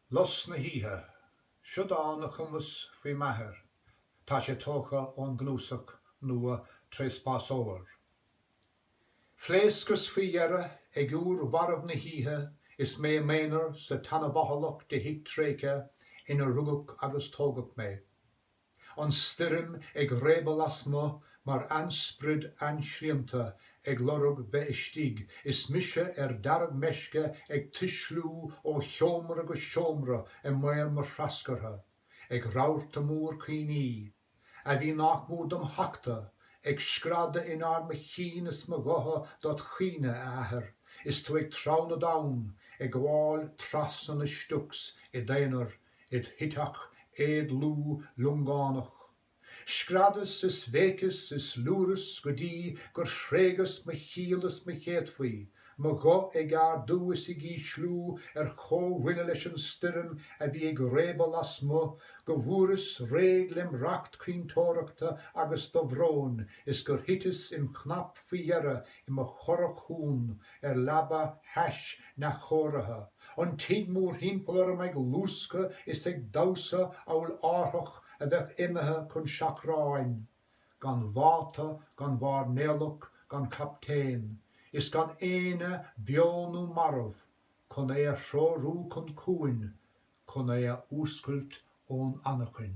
Lus na hoíche. Seo dán a chumas faoi m'athair, tá sé tógtha ón gcnuasach nua Treaspásóir. Phléascas faoi dheireadh ag uair mharbh na hoíche is mé i m'aonar sa tseanabhathalach de thigh tréigthe inar rugadh agus tógadh mé. an stoirm ag réabadh lasmu' mar ainsprid ainshrianta ag lorg bheith istigh is mise ar dearg meisce ag tuisliú ó sheomra go seomra i mbaol mo threascartha ag rabharta mór cuimhní, a bhí nach mór dom thachtadh, ag screadadh in ard mo chinn is mo ghutha dod' chaoineadh, a Athair, is tú ag treabhadh na dtonn, ag gabháil trasna na Stiocs i d'aonar Id choite éadlúth liongánach. Screadas is bhéiceas is liúras go dtí gur thréigeas mo chiall is mo chéadfaí, mo ghuth ag ardú is ag ísliú ar chomhbhuille leis an stoirm a bhí ag réabadh lasmu' go bhfuaireas réidh lem racht caointeoireachta agus dobhróin is gur thiteas im chnap faoi dheireadh i mo churach chúng ar leaba thais neamhchóirithe, an tigh mórthimpeall orm ag luascadh is ag damhsa amhail árthach a bheadh imithe chun seachráin, gan mháta, gan mhairnéalach, gan chaptaen, is gan éinne, beo nó marbh, chun é a threorú chun cuain, chun é a fhuascailt ón anachain.